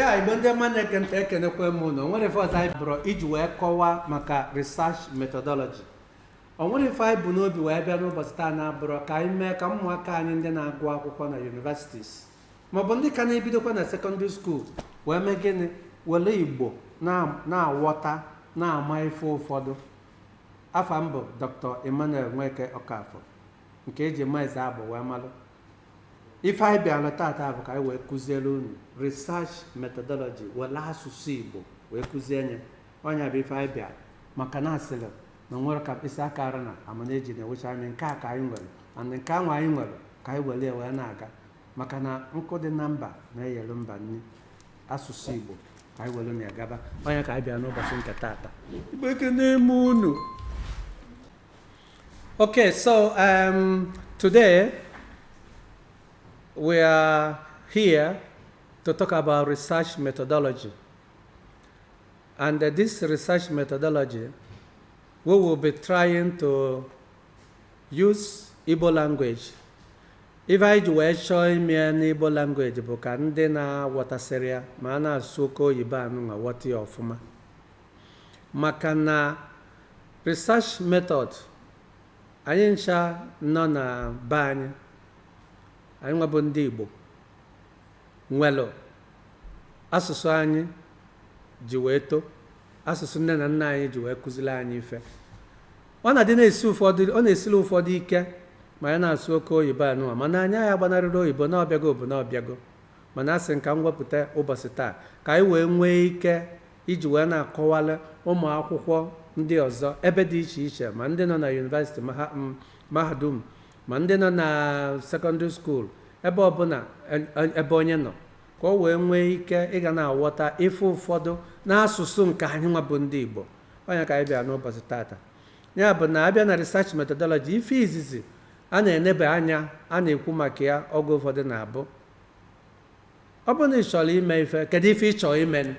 ya igbo ndị ọma na-ege ntị ekenekwa m unu o nwerọ ife ọzọ anyị bụrọ iji wee kọwaa maka research methodology o nwerọ ife anyị bu n'obi wee bịa n'ụbọchị taa na-abụrọ ka anyị mee ka ụmụaka anyị ndị na-agụ akwụkwọ na universities maọbụ ndị ka na-ebidokwa na secondary school wee mee gịnị were igbo na- na-aghọta na-ama ife ụfọdụ afa m bụ dr emmanuel nweke ọkafọ nke e ji mazị abụ wee malụ ife anyị bịara tata bụ ka anyị wee kụziere unu research methodology were asụsụ igbo wee kụzie nya ọ nya bụ ife anyị bịara maka na a sịrị na nwere ka mkpịsị aka ara nha mana e ji na-ewecha anyị nke a ka anyị nwere and nke anwa anyị nwere ka anyị were ya wee na-aga maka na nkụ dị na mba na-eyere mba nri asụsụ igbo ka anyị were na-agaba ọ nya ka anyị bịara n'ụbọchị nke tata igbo ekene m unu Okay, so um, today we are here to talk about research methodology. And uh, this research methodology, we will be trying to use Igbo language. Ife anyị ji wee chọọ ime ya n'Igbo language bụ ka ndị na-aghọtasịrọ ya ma a na-asụ oke oyibo anụwa ghọta ya ọfụma. maka na research method anyị ncha nọ na be anyị anyị nwa bụ ndị Igbo nwelụ asụsụ anyị ji wee to asụsụ nne na nna anyị ji wee kụziri anyị ife ọ na-adị na-esi ụfọdụ ọ na-esili ụfọdụ ike ma anyị na-asụ oke oyibo anụwa mana anyị agaghị agbanarịrị oyibo na ọ bịago bụ na ọ bịago mana asị m ka m wepụta ụbọchị taa ka anyị wee nwee ike iji wee na-akọwara ụmụ akwụkwọ ndị ọzọ ebe dị iche iche ma ndị nọ na university mahadum ma ndị nọ na secondary school ebe ọbụla ebe onye nọ ka o wee nwee ike ịga na-aghọta ife ụfọdụ n'asụsụ nke anyị nwa bụ ndị Igbo ọ nya ka anyị bịa n'ụbọchị tata ya bụ na a bịa na research methodology ife izizi a na-enebe anya a na-ekwu maka ya oge ụfọdụ na-abụ ọ bụrụ na ị chọrọ ime ife kedu ife ị chọrọ imenụ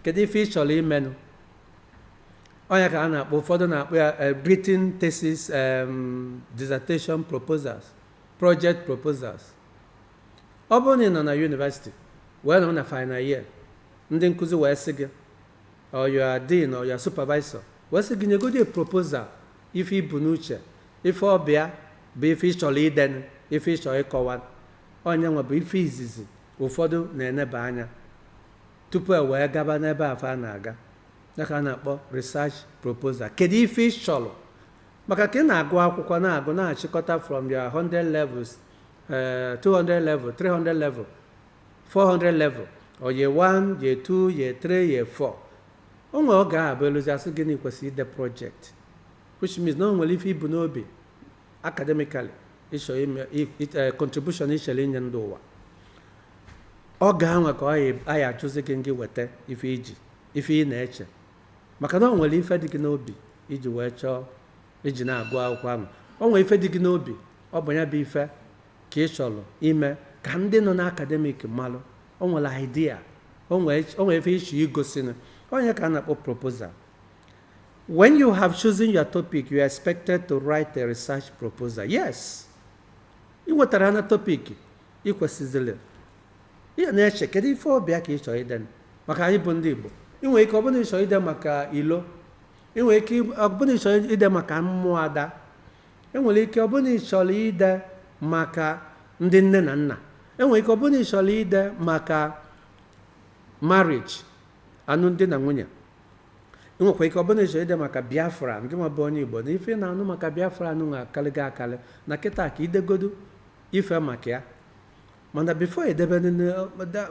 kedu ife ị chọrọ imenụ ọ nya ka a na-akpọ ụfọdụ na-akpọ ya eh, written thesis em, dissertation proposals project proposals ọ bụrụ na ị nọ na university wee nọ na final year ndị nkụzi wee sị gị or your dean or your supervisor wee sị gị nyegodi proposal ife i bu n'uche ife ọ bịa bụ ife ị chọrọ idenụ ife ị chọrọ ịkọwa Ọ nya nwa bụ ife izizi ụfọdụ na-eneba anya tupu e wee gaba n'ebe afụ a na-aga. Ya ka a na-akpọ research proposal. Kedu ife ị chọrọ? Maka ka ị na-agụ akwụkwọ na-agụ na-achịkọta from your 100 levels, eh, 200 level, 300 level, 400 level, or year 1, year 2, year 3, year 4. O nwere oge ahụ bụ e luzie a sị gị na ị kwesịrị ide project which means na o nwere ife i bu n'obi academically ị chọ ime contribution ị chọrọ inye ndị ụwa oge anwa ka a ya-ajụzi gị ngị weta ife i ji ife ị na-eche maka na ọ nwere ife dị gị n'obi i ji wee chọọ i ji na-agụ akwụkwọ ahụ ọ nwere ife dị gị n'obi ọ bụ ya bụ ife ka ị chọrọ ime ka ndị nọ na academic malụ o nwere idea o nwere ife ị chọ igosi ọ nya ka a na-akpọ proposal When you have chosen your topic, you are expected to write a research proposal. Yes. I wetara na topic ị kwesịzịrị ị na-eche kedu ife ọ bụ ka ị chọrọ ide maka anyị bụ ndị Igbo i nwere ike ọ bụ na ị chọrọ ide maka ilo i nwere ike ọ bụ na ị chọrọ ide maka ụmụada e nwere ike ọ bụ na ị chọrọ ide maka ndị nne na nna e nwere ike ọ bụ na ị chọrọ ide maka marriage alụmdi na nwunye i nwekwa ike ọ bụ na ị chọrọ ide maka biafra ngị nwa bụ onye igbo na ife ị na-anụ maka biafra anụ nwa akarịgo akarị na kịta ka i degodu ife maka ya mana before e debe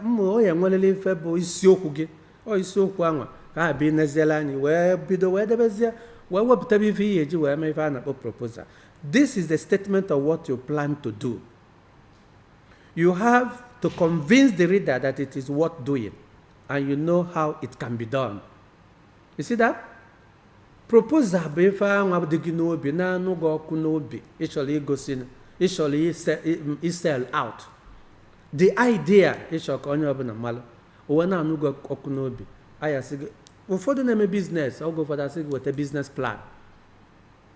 mmụ onye nwerere ife bụ isiokwu gị ọ isiokwu anwa ka ha bụ i neziela anya wee bido wee debezie wee wepụtaba ife ị ya-eji wee mee ife a na-akpọ proposal this is the statement of what you plan to do you have to convince the reader that it is worth doing and you know how it can be done. You see that? Proposal bụ ife anwa dị gị n'obi na-anụ gị ọkụ n'obi ị chọrọ igosi na ị chọrọ ise- i- isell out the idea ị chọ ka onye ọbụla malụ ife na-anụ gị ọkụ n'obi a ya-asị gị ụfọdụ na-eme business oge ụfọdụ a sị gị weta business plan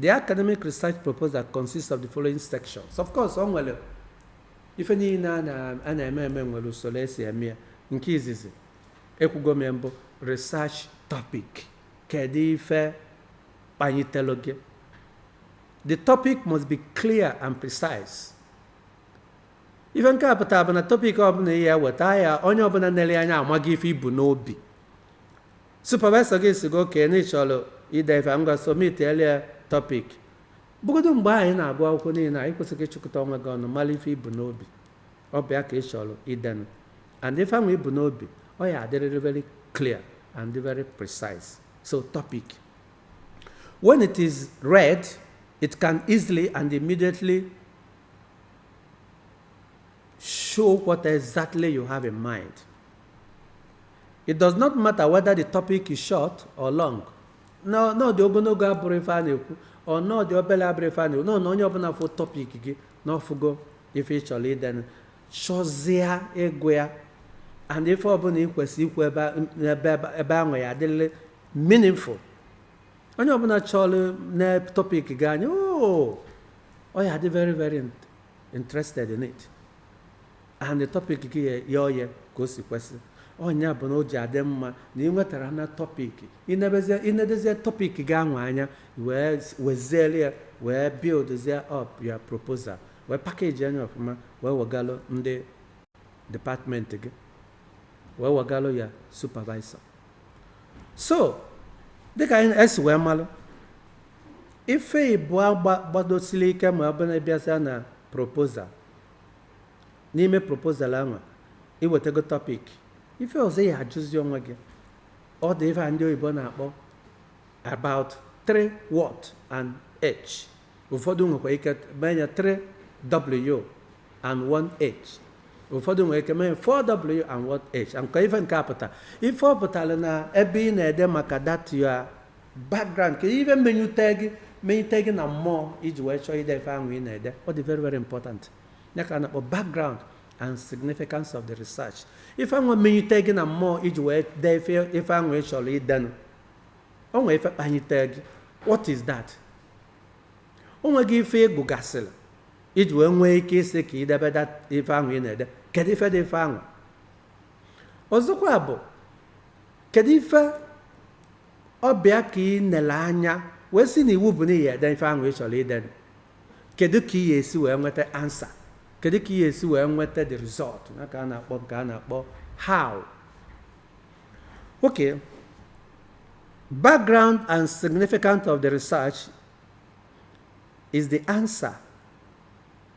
The academic research proposal consists of the following sections. Of course, ọ nwere ife niile a na- a na-eme eme nwere usoro e si eme ya nke izizi ekwugo m ya mbụ research topic kedu ife kpanitelụ gị the topic must be clear and precise ife nke a pụtara bụ na topic ọbụla ị ya-eweta ya onye ọbụla nere anya amago ife i bu n'obi Supervisor gị sị gị okay na ị chọrọ ide ife a, ngwa submit elie topic. Bụgodu mgbe ahụ ị na-agụ akwụkwọ niile a, ị kwesịrị ịchịkọta onwe gị ọnụ mara ife i bu n'obi. Ọ bụ ya ka ị chọrọ idenụ. And ife ahụ i bu n'obi, ọ ya adịrịrị very clear and very precise. So topic. When it is read, it can easily and immediately show what exactly you have in mind. It does not matter whether the topic is short or long. Na na ọ dị ogologo abụrọ ife a na-ekwu ọ na ọ dị obere abụrọ ife a na-ekwu nọ na onye ọbụla fụ topic gị na ọ fụgo ife ị chọrọ idenụ chọzịa ịgụ ya and ife ọbụla ị kwesịrị ikwu ebe a- ebe ebe- ebe ahụ ya adịrịrị meaningful onye ọbụla chọrọ na topic gị anya oo ọ ya dị very very int- interested in it and the topic gị ya ya oye ka o si kwesị ọ nya bụ na o ji adị mma na ị nwetara na topic i nebezie i nedezie topic gị anwa anya wee weziere ya wee buildzie up your proposal wee package nya ọfụma wee wegalụ ndị department gị wee wegalụ ya supervisor so dịka anyị esi wee malụ ife ịbụọ gba- gbadosiri ike ma ọ bụ na ị bịazịa na proposal n'ime proposal anwa i wetago topic ife ọzọ ị ya ajụzi onwe gị ọ dị ife a ndị oyibo na-akpọ about three what and h ụfọdụ nwekwa ike mee ya 3w and 1h ụfọdụ nwere ike mee 4w and 1h nke ife nke a pụta ife ọ pụtara na ebe ị na-ede maka that your background ka ife menyute gị menyute gị na mmụọ i ji wee chọọ ide ife ahụ ị na-ede ọ dị very very important ya ka a na-akpọ background and significance of the research ife ahụ menyute gị na mmụọ i ji wee dee ife ife ahụ ị chọrọ idenụ o nwee ife kpanyite gị what is that o nwee ife ị gụgasịrị i ji wee nwee ike ịsị ka i debe that ife ahụ ị na-ede kedu ife dị ife ahụ ọzọkwa bụ kedu ife Ọ bịa ka ị na-ele anya wee sị na iwu bụ na ị ya ede ife ahụ ị chọrọ idenụ. Kedu ka ị ya esi wee nweta answer? Kedu ka ị ya esi wee nweta the result? Ya ka a na-akpọ nke a na-akpọ how. Okay. Background and significance of the research is the answer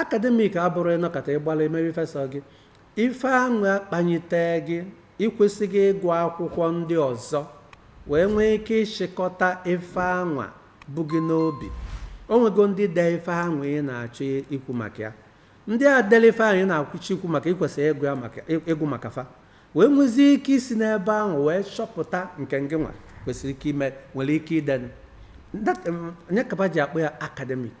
akademik abụrọ ịnọkata ịgbara emewe ife sọ gị ife anwa kpanyite gị ị kwesịrị ịgụ akwụkwọ ndị ọzọ wee nwee ike ịchịkọta ife anwa bụ gị n'obi o nwego ndị dee ife anwa ị na-achọ ikwu maka ya ndị a dere ife ahụ ị na-akwụchi ikwu maka ị kwesịrị ịgụ ya maka ịgụ maka fa wee nwezie ike isi n'ebe ahụ wee chọpụta nke ngị nwa kwesịrị ike ime nwere ike ide ọ ya ka ba ji akpọ ya akademik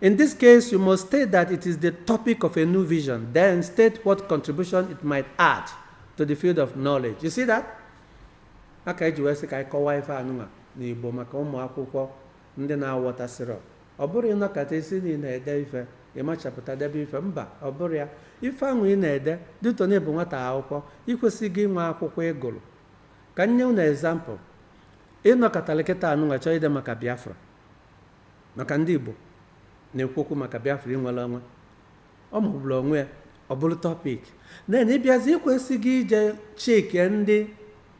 In this case, you must state that it is the topic of a new vision, then state what contribution it might add to the field of knowledge. You see that? Ya ka e ji wee sị ka anyị kọwaa ife anụnwa n'Igbo maka ụmụ akwụkwọ ndị na-awọtasịrọ. Ọ bụrọ ịnọkata ị sị na ị na-ede ife, ị machapụta debe ife mba ọ bụrọ ya. Ife ahụ ị na-ede dịtọ na ịbụ nwata akwụkwọ, ị kwesịrị inwe akwụkwọ ị gụrụ. Ka m nye unu example. Ị nọkatara kịta anụnwa chọọ ide maka Biafra. Maka ndị Igbo na-ekwu okwu maka Biafra inwere onwe, ọ magburu onwe ya ọ bụrụ tọpik then ị bịazi i kwesịrị ije check ndị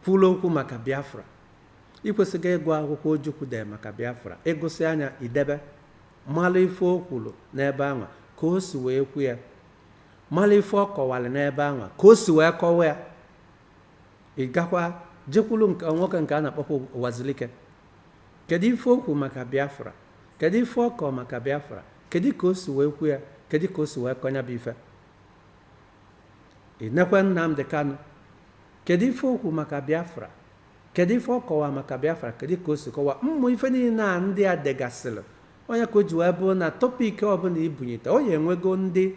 kwuru okwu maka Biafra i kwesịrị ịgụ akwụkwọ Ojukwu dee maka Biafra ị gụsịa ya i debe mara ife o kwuru n'ebe anwa ka o si wee kwu ya mara ife ọ kọwara n'ebe anwa ka o si wee kọwa ya ị gakwa jekwuru nke nwoke nke a na-akpọkwa Uwazuruike Kedụ ife o kwuru maka Biafra? Kedụ ife ọ kọọ maka Biafra? Kedụ ka o si wee kwu ya? Kedụ ka o si wee kọọ ya bụ ife? Ị nekwe Nnamdi Kanu, kedụ ife o kwuru maka Biafra? Kedụ ife ọ kọwa maka Biafra? Kedụ ka o si kọwa? Ụmụ ife niile a ndị a degasịrị, ọ ya ka o ji wee bụrụ na topik ọbụla i bunyite, ọ ya-enwego ndị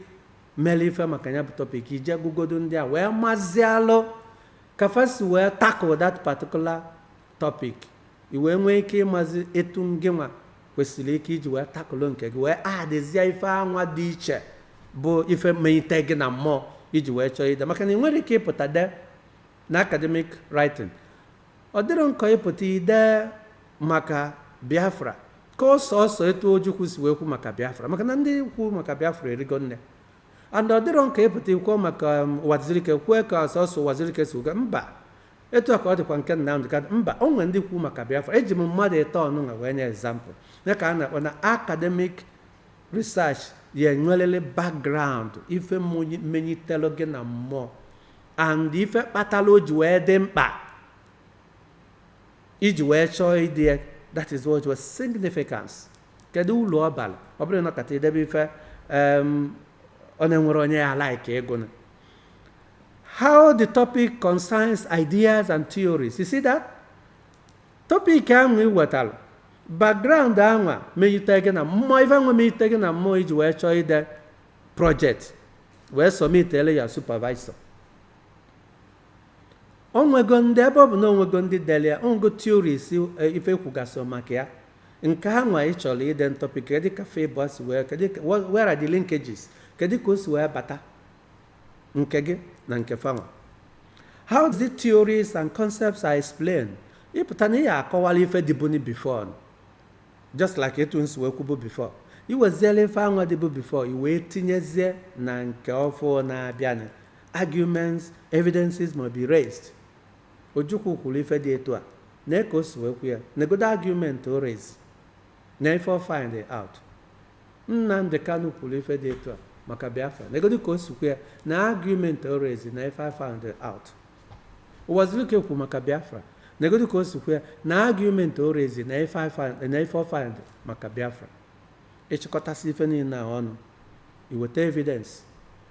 mere ife maka ya bụ topik, i je gụgodo ndị a wee mazialụ ka fa si wee tackle that particular Topic, I wee nwee ike ịmazi etu ngịnwa kwesịrị ike iji wee takụlụ nke gị wee adịzie ife anwa dị iche bụ ife menyite gị na mmụọ i ji wee chọọ ide maka na ị nwere ike ịpụta dee na academic writing ọ dịrọ nkọ ịpụta i dee maka biafra ka ọ sọsọ etu ojukwu si wee kwu maka biafra maka na ndị kwu maka biafra erigo nne and ọ dịrọ nkọ ịpụta i kwuo maka um, uwazuruike kwue ka sọsọ uwazuruike si uga mba etu a ka ọ dịkwa nke Nnamdị Kanu mba o nwere ndị kwu maka Biafra eji m mmadụ ịtọ anụnwa wee nye ezampụl ya ka a na-akpọ na akademik research ya-enwerịrị background ife menyitelu gị na mmụọ and ife kpatara o ji wee dị mkpa i ji wee chọọ ide ya that is what was significance kedu uru ọ bara ọ bụrọ ịnọkata i debe ife ọ na-enwerọ onye ya-alike ịgụnụ how the topic concerns ideas and theories you see that topic ahụ ị wetara background ahụ meyite gị na mmụọ ife ahụ meyite gị na mmụọ i ji wee chọọ ide project wee submitele ya supervisor o nwego ndị ebe ọ bụ na o nwego ndị dere ya o nwego theories ife e kwugasị maka ya nke anwa ị chọrọ ide na topic kedu ka fa abụọ si wee kedu ka where are the linkages kedu ka o si wee bata nke gị na nke fanwa how the theories and concepts are explained ịpụta na ị ya akọwala ife dịbuni before just like etu m si wee kwubu before i weziela ife anwa dịbu before i wee tinyezie na nke ọfụ na-abịanụ arguments evidences may be raised ojukwu kwuru ife dị etu a nee ka o si wee kwu ya negodo argument o raise na ife o find out Nnamdi Kanu kwuru ife dị etu a maka Biafra. Negodu ka o si kwu ya na argument o raise na ife I found out. Uwazuruike kwuru maka Biafra. Negodu ka o si kwu ya na argument o raise na ife I found- na ife o find maka Biafra. Ị chịkọtasị ife niile a ọnụ, i weta evidence,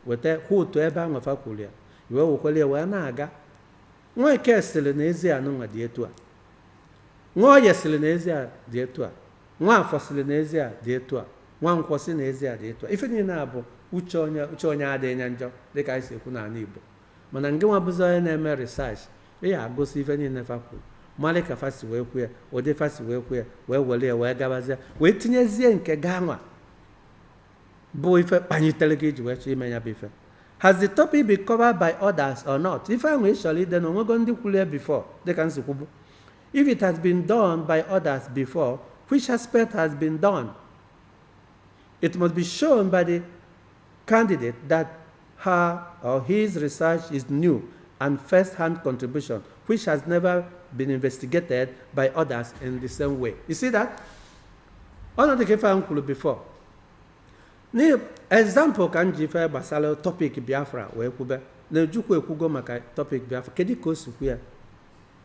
weta quote ebe anwa fa kwuru ya, i wee wekọrọ ya wee na-aga Nweke sịrị na ezi anụnwa dị etu a. Nwoye sịrị na ezi a dị etu a. Nwafọ sịrị na ezi a dị etu a. Nwankwọ sị na ezi a dị etu a. Ife niile a bụ uche onye uche onye adịghị ya njọ dịka anyị si ekwu n'ala Igbo. Mana ngịnwa bụzi onye na-eme research, ị ya agụsị ife niile fa kwuru, mara ka fa si wee kwu ya, ụdị fa si wee kwu ya, wee were ya wee gabazie, wee tinyezie nke gị anwa. bụ ife kpanyitere gị i ji wee chọọ ime ya bụ ife has the topic been covered by others or not ife ahụ ị chọrọ ide na o nwego ndị kwuru ya before dịka m si kwubu if it has been done by others before which aspect has been done it must be shown by the candidate that her or his research is new and first-hand contribution which has never been investigated by others in the same way you see that ọnụ dịka ife ahụ kwuru before nye example ka m ji ife gbasara topic biafra wee kwube na ojukwu ekwugo maka topic biafra kedu ka o si kwu ya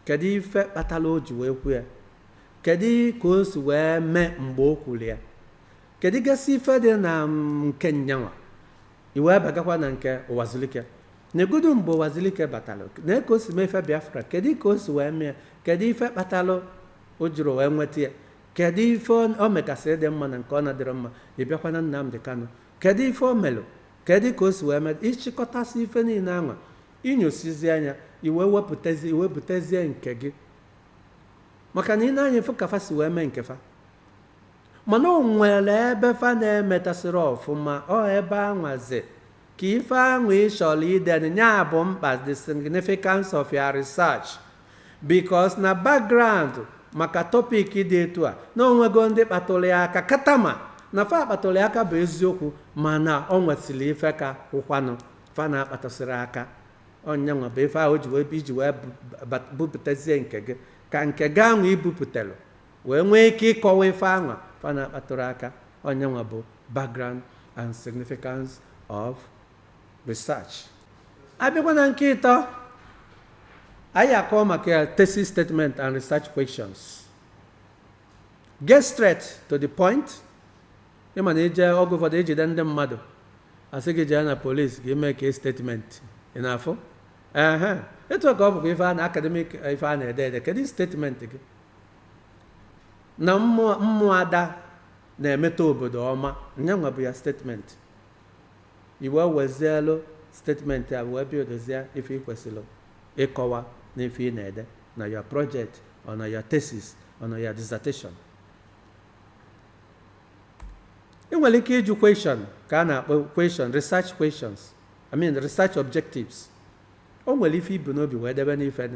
kedu ife kpatara o ji wee kwu ya kedu ka o si wee mee mgbe o kwuru ya kedu gasị ife dị na mm, nke nyanwa i wee bagakwa na nke ụwazulike negodu mgbe ụwazulike batara nee ka o si mee ife biafra kedu ka o si wee mee ya? kedu ife kpatara o jiri wee weta ya Kedụ ife ọ megasịrị dị mma na nke ọ na-adịrọ mma? Ị bịakwa na Nnamdi Kanu, kedụ ife o melụ? Kedụ ka o si wee mee? Ị chịkọtasị ife niile anwa, ị nyosizie anya, i wee wepụtazie, i wee butezie nke gị. Maka na i nee anya fụ ka fa si wee mee nke fa. Mana o nwere ebe fa na-emetasịrọ ọfụma, ọ ebe anwazi Ka ife ahụ ị chọrọ ide, ya bụ mkpa the significance of your research because na background maka topic dị etu a na o nwego ndị kpatụrụ ya aka katama na fa kpatụrụ ya aka bụ eziokwu mana ọ nwesịrị ife ka ụkwanụ fa na-akpatụsịrọ aka ọ nyanwa bụ ife ahụ o ji wee iji wee bu- bu- bupụtazie nke gị ka nke gị ahụ i bupụtara wee nwee ike ịkọwa ife anwa fa na-akpatụrọ aka ọ nyanwa bụ background and significance of research a bịakwa na nke ịtọ anyị ya akọ maka thesis statement and research questions get straight to the point ị ma na i je oge ụfọdụ e jide ndị mmadụ a sị gị jee na police ga makea statement ị na-afụ ehe etu a ka ọ bụkwa ife a na academic ife a na-ede ede kedu statement gị na ụmụada na-emeta obodo ọma nyanwa bụ your statement i wee wezielu statement a wee bịa dozie ife ị kwesịrị ịkọwa na ife ị na-ede na your project or na your thesis or na your dissertation ị nwere ike ịjụ question ka a na-akpọ question research questions i mean research objectives o nwere ife i bu n'obi wee debe n'ife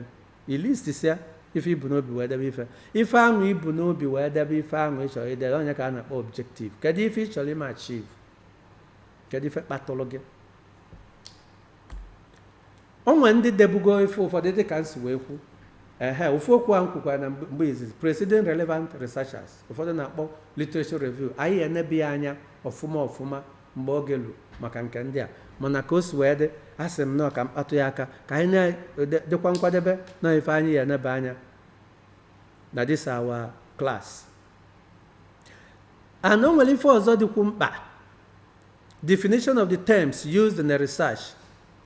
I listisịa ife i bu n'obi wee debe ife. Ife ahụ i bu n'obi wee debe ife ahụ ị chọrọ ide, ọ nya ka a na-akpọ objective. Kedụ ife ị chọrọ ime achieve? Kedụ ife kpatụrụ gị? O nwere ndị debugo ife ụfọdụ dị ka m si wee kwu ehe ofu okwu a m kwukwara na mgbe mgbe izizi preceding relevant researchers ụfọdụ na-akpọ literature review anyị enebe ya anya ọfụma ọfụma mgbe oge ruru maka nke ndị a mana ka o si wee dị, asị m nọọ ka m kpatụ ya aka ka anyị na-adịkwa nkwadebe na ife anyị ya enebe anya na this our class and o nwere ife ọzọ dịkwu mkpa definition of the terms used in the research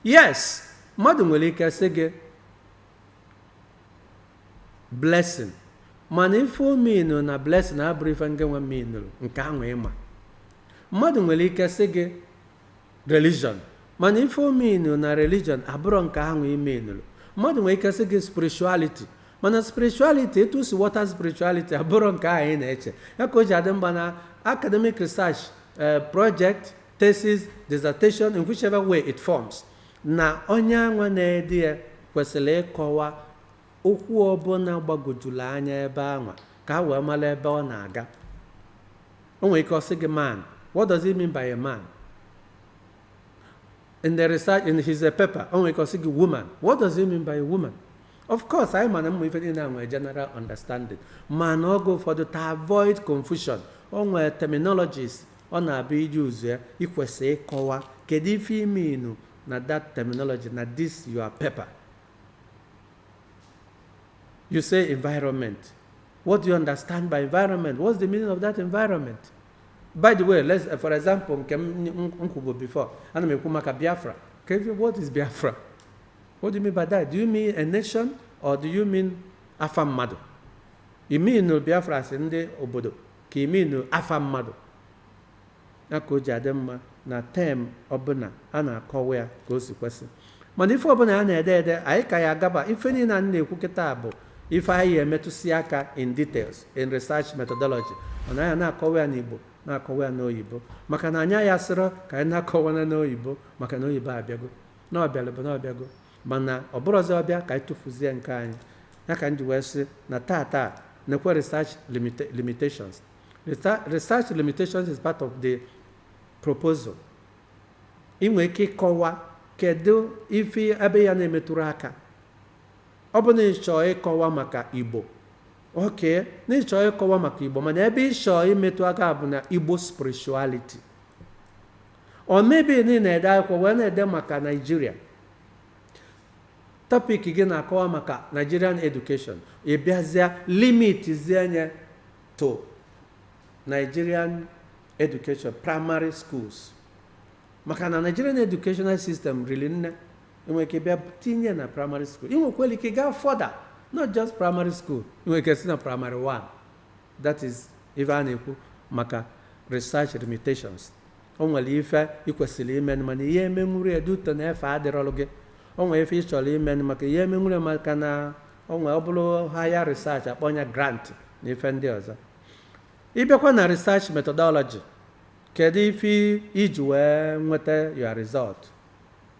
yes mmadụ nwere ike sị gị blessing mana ife o meanụrụ na blessing abụrọ ife nke nwe meanụrụ nke ahụ ị ma mmadụ nwere ike sị gị religion mana ife o meanụrụ na religion abụrọ nke ahụ ị meanụrụ mmadụ nwere ike sị gị spirituality mana spirituality etu o si ghọta spirituality abụrọ nke ahụ ị na-eche ya ka o ji adị mkpa na academic research eh, project thesis dissertation in whichever way it forms na onye anwa na-ede ya kwesịrị ịkọwa Okwu ọ bụla gbagojuru anya ebe anwa ka e wee mara ebe ọ na-aga. O nwere ike ọ sị gị man, what does it mean by a man? In the research, in his paper, o nwere ike ọ sị gị woman, what does it mean by a woman? Of course, anyị ma na ife niile a nwere general understanding mana oge ụfọdụ to avoid confusion o nwere terminologies ọ na-abụ i je use ya i kwesị ịkọwa kedu ife ị mean na that terminology na this your paper You say environment. What do you understand by environment? What's the meaning of that environment? By the way, let's, for example, nke m m- m kwubu before, ana m ekwu maka Biafra. Ka ebi- What is Biafra? What do you mean by that? Do you mean a nation or do you mean afa mmadụ? You mean Biafra as ndị obodo ka you mean afa mmadụ? Ya ka o ji adị mma na term ọbụla a na-akọwa ya ka o si kwesị. Mana ife ọbụla a na-ede ede, anyị ka ya agaba. Ife niile a na-ekwu kịta bụ ife anyị ya-emetụsị aka in details in research methodology. Mana anyị na-akọwa ya n'Igbo na-akọwa ya n'oyibo maka na anyị ya sịrọ ka anyị na-akọwana n'oyibo maka na oyibo abịago na ọ bịalụ bụ na ọ bịago mana ọ bụrọzi ọ bịa ka anyị tụfuzie nke anyị ya ka m ji wee sị na tata nekwa research limitations research limitations is part of the proposal ị nwere ike ịkọwa kedu ife ebe ị ya na-emetụrụ aka ọ bụ na ị chọọ ịkọwa maka igbo okay na ị chọọ ịkọwa maka igbo mana ebe ị chọọ imetụ aka bụ na igbo spirituality or maybe na ị na-ede akwụkwọ wee na-ede maka Nigeria topic gị na-akọwa maka nigerian education ị bịazịa limit zie nya to Nigerian education primary schools maka na Nigerian educational system riri nne ị nwere ike bịa tinye na primary school ị nwekwara ike gaa further not just primary school ị nwere ike sị na primary one that is ife a na-ekwu maka research limitations o nwere ife ị kwesịrị imenụ mana ị ya-emenwurọ ya due to na efe adịrọlụ gị o nwere ife ị chọrọ imenụ maka ị ya-emenwurọ ya maka na o nwere ọ bụrụ higher research a kpọọ nya grant na ife ndị ọzọ ị bịakwa na research methodology kedu ife i ji wee nweta your result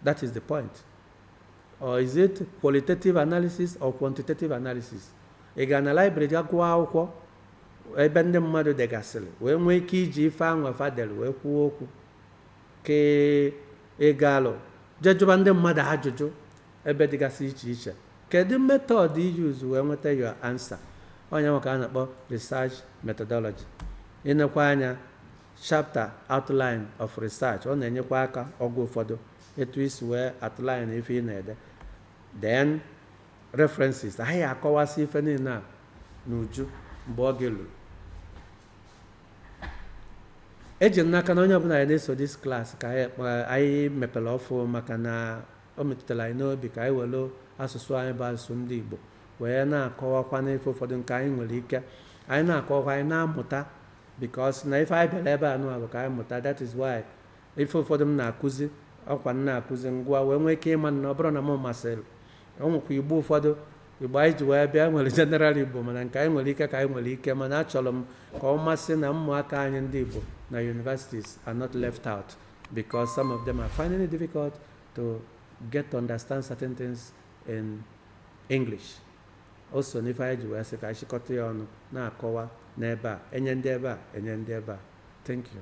that is the point Or is it qualitative analysis or quantitative analysis? Ị ga na library ga gụọ akwụkwọ ebe ndị mmadụ degasịrị wee nwee ike iji ife anwa fa delụ wee kwuo okwu ka ị gaalụ je jụba ndị mmadụ ajụjụ ebe dịgasị iche iche kedu method ị use wee nweta your answer ọ nya nwa ka a na-akpọ research methodology i nekwa anya Chapter Outline of Research, ọ na-enyekwa aka oge ụfọdụ etu i si wee outline ife ị na-ede. Then references, anyị ya-akọwasị ife niile a n'uju mgbe oge luru. eji m n'aka na onye ọbụla anyị na-eso this class ka anyị kpa- anyị mepere ọfụụ maka na o metụtara anyị n'obi ka anyị were asụsụ anyị bụ asụsụ ndị igbo wee na-akọwakwa n'ife ụfọdụ nke anyị nwere ike anyị na-akọwakwa anyị na-amụta because na ife anyị bịara ebe a nụwa bụ ka anyị mụta that is why ife ụfọdụ m na-akụzi ọkwa m na-akụzi ngwa wee nwee ike ịma na ọ bụrụ na m masịrị o nwekwa igbo ụfọdụ igbo anyị ji wee bịa nwere general igbo mana nke anyị nwere ike ka anyị nwere ike mana achọrọ m ka ọ masị na ụmụaka anyị ndị igbo na universities are not left out because some of them are finding it difficult to get to understand certain things in english O so n'ife anyị ji wee sị ka anyị chịkọta ya ọnụ na-akọwa n'ebe a, enye ndị ebe a, enye ndị ebe a. Thank you.